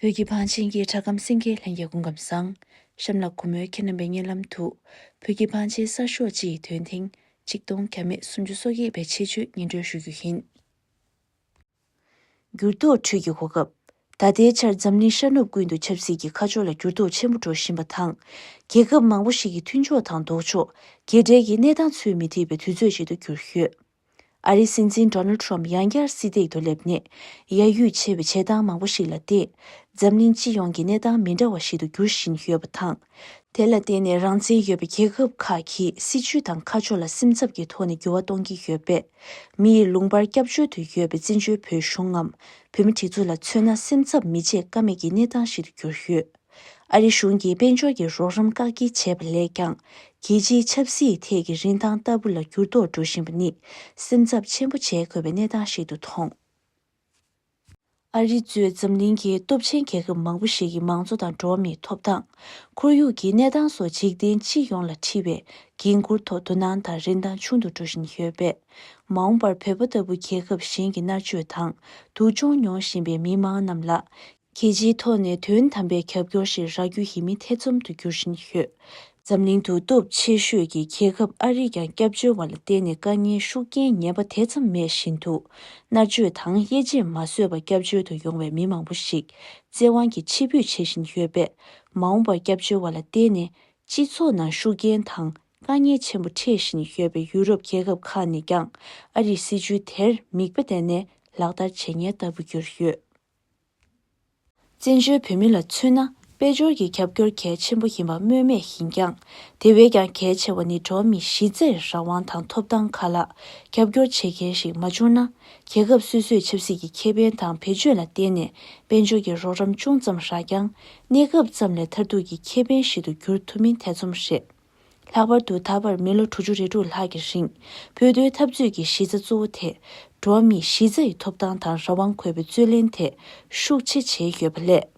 བོད་ཀྱི་བང་ཆེན་གྱི་གྲགས་སྐམ་སེང་གེའི་ལྷན་སྐྱེས་སྐུ་ཁམས་བཟང། གཤམ་ལ་གུ་མོའི་ཁྱེད་རྣམ་པའི་སྙན་ལམ་དུ། བོད་ཀྱི་བང་ཆེན་གསར་ཤོག་སྤྱི་ཡི་དོན་ཐེངས་གཅིག་སྟོང་གྱ་མེད་སུམ་ཅུ་སོ་བརྒྱད་པའི་ཆེད་སྤྱོད་སྙན་སྒྲོན་ཞུ་རྒྱུ་ཡིན། འགྱུར་ལྡོག་ཁྲོད་ཀྱི་གོ་སྐབས། ད་ལྟའི་ཆར་འཛམ་གླིང་ཤར་ནུབ་ཀུན་ཏུ་ཆབ་སྲིད་ཀྱི་ཁ་ཕྱོགས་ལ་འགྱུར་ལྡོག་ཆེན་པོ་འགྲོ་བཞིན་པ་དང། རྒྱལ་ཁབ་མང་པོ་ཞིག་གི་མཐུན་ཕྱོགས་དང་ལྡོག་ཕྱོགས་གྱེས་བྲལ་གྱི་གནས་སྟངས་ཚུལ་མི་ཐིག་པའི་དུས་ཚོད་ཅིག་ཏུ་གྱུར་ཡོད། ཨ་རིའི་སྲིད་འཛིན Donald Trump ཡང་བསྐྱར་སྲིད་སྟེགས་དུ་སླེབས་ནས་ཡ་ཡུས་ཆེ་བའི་བྱེད་སྟངས་མང་པོ་ཞིག་ལ་བརྟེན། འཛམ་གླིང་སྤྱི་ཡོངས་ཀྱི་གནས་སྟངས་མི་འདྲ་བ་ཞིག་ཏུ་འགྱུར་བཞིན་ཡོད་པ་དང། དེ་ལ་བརྟེན་ནས་རང་བཙན་ཡོད་པའི་རྒྱལ་ཁབ་ཁག་གིས་སྲིད་བྱུས་དང་ཁ་ཕྱོགས་ལ་སེམས་འཚབ་ཀྱི་ཐོག་ནས་འགྱུར་བ་གཏོང་གི་ཡོད་པས། མི་ཡི་ལུང་པར་སྐྱབས་བཅོལ་དུ་ཡོད་པའི་བཙན་བྱོལ་བོད་གཞུང་ངམ་བོད་མི་སྒྲིག་འཛུགས་ལ་མཚོན་ན་སེམས་འཚབ་མི་བྱེད་ཀ་མེད་ཀྱི་གནས་སྟངས་ཤིག་ཏུ་གྱུར་ཡོད། ཨ་རི་གཞུང་གིས་དཔལ་འབྱོར་གྱི་རོགས་རམ་བཀག་སྐྱིལ་བྱས་པ་ལས་ཀྱང་རྒྱལ་སྤྱིའི་ཆབ་སྲིད་ཐད་ཀྱི་རིན་ཐང་ལྟ་བུ་ལ་འགྱུར་ལྡོག་འགྲོ་བཞིན་པ་ནི་སེམས་འཚབ་ཆེན་པོ་བྱེད་དགོས་པའི་གནས་སྟངས་ཤིག་ཏུ་མཐོང། ཨ་རི་གཙོས་འཛམ་གླིང་གི་སྟོབས་ཆེན་རྒྱལ་ཁབ་མང་པོ་ཞིག་གི་མང་གཙོ་དང་འགྲོ་བ་མིའི་ཐོབ་ཐང། ཁོར་ཡུག་གི་གནས་སྟངས་སོགས་འཇིག་རྟེན་སྤྱི་ཡོངས་ལ་འཁྲི་བའི་འགན་འཁུར་ཐོག་དོ་སྣང་དང་རིན་ཐང་ཆུང་དུ་འགྲོ་བཞིན་ཡོད་པས། མ་འོངས་པར་བོད་པ་ལྟ་བུ་རྒྱལ་ཁབ་གཞན་གྱི་མནར་གཅོད་དང་སྡུག་སྦྱོང་མྱོང་བཞིན་པའི་མི་མང་རྣམས་ལ། གལ་ཆེའི་ཐོག་ནས་དོན་དམ་པའི་རྒྱབ་སྐྱོར་ཞིག་རག་རྒྱུ་ཡིན་མིན་ཐེ་ཚོམ་དུ་འགྱུར་བཞིན་ཡོད། འཛམ་གླིང་དུ་སྟོབས་ཆེ་ཤོས་ཀྱི་རྒྱལ་ཁབ་ཨ་རིས་ཀྱང་སྐྱབས་བཅོལ་བ་ལ་བརྟེན་ནས་དཀའ་ངལ་ཤུགས་རྐྱེན་ངན་པ་དེ་ཙམ་མེད་བཞིན་དུ་མནར་གཅོད་དང་དབྱེ་འབྱེད་མ་བཟོད་པར་སྐྱབས་བཅོལ་དུ་ཡོང་བའི་མི་མང་པོ་ཞིག་བཙན་དབང་གིས་ཕྱིར་འབུད་བྱེད་བཞིན་ཡོད་པས་མ་འོངས་པར་སྐྱབས་བཅོལ་བ་ལ་བརྟེན་ནས་སྤྱི་ཚོགས་ནང་ཤུགས་རྐྱེན་དང་དཀའ་ངལ་ཆེན་པོ་འཕྲད་བཞིན་ཡོད་པའི་ཡུ་རོབ་རྒྱལ་ཁབ་ཁག་ནས་ཀྱང་ཨ་རིས་སྲིད་བྱུས་དེར་མིག་དཔེ་བལྟས་ནས་ལག་བསྟར་བྱེད་ངེས་ལྟ་བུ་གྱུར་ཡོད། བཙན་བྱོལ་བོད་མི་ལ་མཚོན་ན་དཔལ་འབྱོར་གྱི་རྒྱབ་སྐྱོར་གལ་ཆེན་པོ་ཡིན་པ་སྨོས་མེད་ཡིན་ཀྱང། དེ་བས་ཀྱང་གལ་ཆེ་བ་ནི་འགྲོ་བ་མིའི་གཞི་རྩའི་རང་དབང་དང་ཐོབ་ཐང་ཁག་ལ་རྒྱབ་སྐྱོར་བྱེད་མཁན་ཞིག་མ་བྱུང་ན། རྒྱལ་ཁབ་སོ་སོས་ཆབ་སྲིད་ཀྱི་ཁེ་ཕན་དང་བེད་སྤྱོད་ལ་བརྟེན་ནས་དཔལ་འབྱོར་གྱི་རོགས་རམ་ཅུང་ཙམ་རག་ཀྱང། གནས་སྐབས་ཙམ་ལས་མཐར་ཐུག་གི་ཁེ་ཕན་ཞིག་ཏུ་འགྱུར་ཐུབ་མིན་ཐེ་ཚོམ་རེད། ལྷག་པར་དུ་ད་བར་མི་ལོ་དྲུག་ཅུ་རེ་དྲུག་ལྷག་གི་རིང་བོད་དོན་འཐབ་རྩོད་ཀྱི་གཞི་རྩ་གཙོ་བོ་དེ་འགྲོ་བ་མིའི་གཞི་རྩ་ཡི་ཐོབ་ཐང་དང་རང་དབང་འཁོད་པའི་རྩོད་ལེན་དེ་ཤུགས་ཆེ་བྱས་ཡོད་པ་ལས།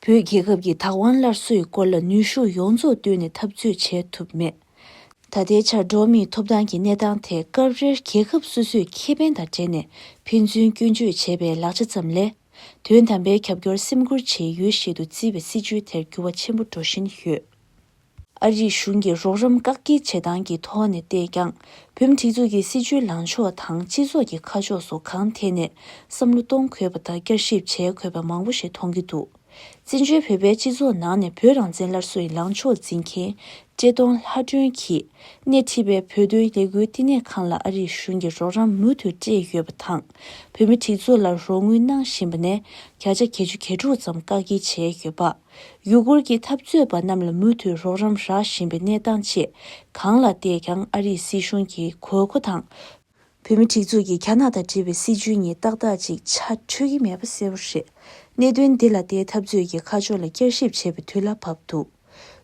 བོད་རྒྱལ་ཁབ་ཀྱི་དག་དབང་སླར་གསོའི་སྐོར་ལ་ནུས་ཤུགས་ཡོངས་རྫོགས་བཏོན་ནས་འཐབ་རྩོད་བྱས་ཐུབ་མེད། ད་ལྟའི་ཆར་འགྲོ་བ་མིའི་ཐོབ་ཐང་གི་གནས་སྟངས་དེ་སྐབས་རེར་རྒྱལ་ཁབ་སོ་སོས་ཁེ་ཕན་དང་འབྲེལ་ནས་ཕན་ཚུན་སྐྱོན་བརྗོད་བྱེད་པའི་ལག་ཆ་ཙམ་ལས། དོན་དམ་པའི་རྒྱབ་སྐྱོར་སེམས་ཁུར་བྱེད་ཡུལ་ཞིག་ཏུ་བརྩི་བའི་སྲིད་བྱུས་དེར་འགྱུར་བ་ཆེན་པོ་འགྲོ་བཞིན་ཡོད། ཨ་རིའི་གཞུང་གིས་རོགས་རམ་བཀག་སྐྱིལ་བྱེད་སྟངས་ཀྱི་ཐོག་ནས་བལྟས་ཀྱང་བོད་མི་སྒྲིག་འཛུགས་ཀྱི་སྲིད་བྱུས་ལངས་ཕྱོགས་དང་སྤྱི་ཚོགས་ཀྱི་ཁ་ཕྱོགས་སོགས་གང་ཐད་ནས་བསམ་བློ་གཏོང་དགོས་པ་དང་བསྐྱར་ཞིབ་བྱེད་དགོས་པ་མང་པོ་ཞིག་མཐོང་གི་འདུག་བཙན་བྱོལ་བོད་པའི་སྤྱི་ཚོགས་ནང་ནས་བོད་རང་བཙན་སླར་གསོ་ཡི་ལངས་ཕྱོགས་འཛིན་མཁན་བཀྲས་མཐོང་ལྷ་སྒྲོན་གྱིས་སྣེ་ཁྲིད་པའི་བོད་དོན་ལས་འགུལ་བསྟི་གནས་ཁང་ལ་ཨ་རིའི་གཞུང་གིས་རོགས་རམ་མུ་མཐུད་སྤྲད་ཡོད་པ་དང་བོད་མི་སྒྲིག་འཛུགས་ལ་རོགས་དངུལ་གནང་བཞིན་པ་ནས་བརྒྱ་ཆ་གྱ་བཅུ་གྱ་དྲུག་ཙམ་བཀག་སྐྱིལ་བྱས་ཡོད་པ། ཡུ་གུར་གྱི་འཐབ་རྩོད་པ་རྣམས་ལ་མུ་མཐུད་རོགས་རམ་རག་བཞིན་པའི་གནས་སྟངས་ཆེ་གང་ལ་བལྟས་ཀྱང་ཨ་རིའི་སྲིད་གཞུང་གི་གོས་མཁོ་དང། བོད་མི་སྒྲིག་འཛུགས་ཀྱི་རྒྱ་ནག་དང་འབྲེལ་བའི་སྲིད་བྱུས་གཉིས་ཏག་ཏག་ཅིག་ཆ་འཕྲོད་ཀྱི་མེད་པ་གསལ་བོ་རེད། གནད་དོན་འདི་ལ་བལྟས་འཐབ་རྩོད་ཀྱི་ཁ་ཕྱོགས་ལ་བསྐྱར་ཞིབ་བྱེད་པའི་དུས་ལ་བབས་འདུག་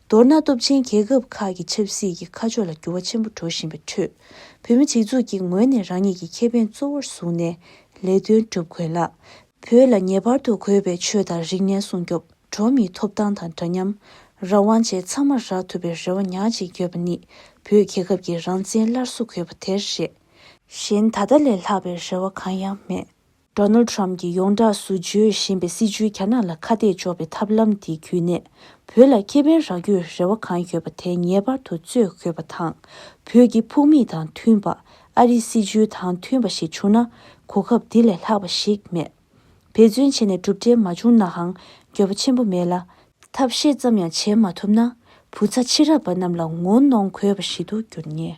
མདོར་ན་སྟོབས་ཆེན་རྒྱལ་ཁབ་ཁག་གི་ཆབ་སྲིད་ཀྱི་ཁ་ཕྱོགས་ལ་འགྱུར་བ་ཆེན་པོ་འགྲོ་བཞིན་པའི་ཁྲོད་བོད་མི་སྒྲིག་འཛུགས་ཀྱི་ངོས་ནས་རང་ཉིད་ཀྱི་ཁེ་ཕན་གཙོ་བོར་བཟུང་ནས་ལས་དོན་སྒྲུབ་དགོས་ལ། བོད་ལ་ངེས་པར་དུ་དགོས་པའི་ཆོས་དང་རིག་གནས་སྲུང་སྐྱོབ་འགྲོ་མིའི་ཐོབ་ཐང་དང་འདྲ་མཉམ། རང་དབང་བཅས་ཚང་མར་རག་ཐུབ་པའི་རེ་བ་ཉག་གཅིག་ཡོད་པ་ནི་བོད་རྒྱལ་ཁབ་ཀྱི་རང་བཙན་སླར་གསོ་དགོས་པ་དེར་རེད། གཞན་ད་ལྟ་ལས་ལྷག་པའི་རེ་བ་གང་ཡང་མེད། Donald Trump གྱིས་ཡོངས་གྲགས་སུ་བརྗོད་བཞིན་པའི་སྲིད་བྱུས་རྒྱ་ནག་ལ་ཁ་གཏད་གཅོག་པའི་ཐབས་ལམ་དེ་བརྒྱུད་ནས་བོད་ལ་ཁེ་ཕན་རག་རྒྱུའི་རེ་བ་གང་ཡོད་པ་དེ་ངེས་པར་དུ་རྩོད་དགོས་པ་དང། བོད་ཀྱི་ཕུགས་དམིགས་དང་མཐུན་པ་ཨ་རིའི་སྲིད་བྱུས་དང་མཐུན་པ་ཞིག་བྱུང་ན་གོ་སྐབས་འདི་ལས་ལྷག་པ་ཞིག་མེད། འབད་བརྩོན་བྱས་ནས་གྲུབ་འབྲས་མ་བྱུང་ནའང་འགྱོད་པ་ཆེན་པོ་མེད་ལ། ཐབས་ཤེས་ཙམ་ཡང་བྱེད་མ་ཐུབ་ན་བུ་ཚ་ཕྱི་རབས་པ་རྣམས་ལ་ངོ་གནོང་དགོས་པ་ཞིག་ཏུ་འགྱུར་ངེས།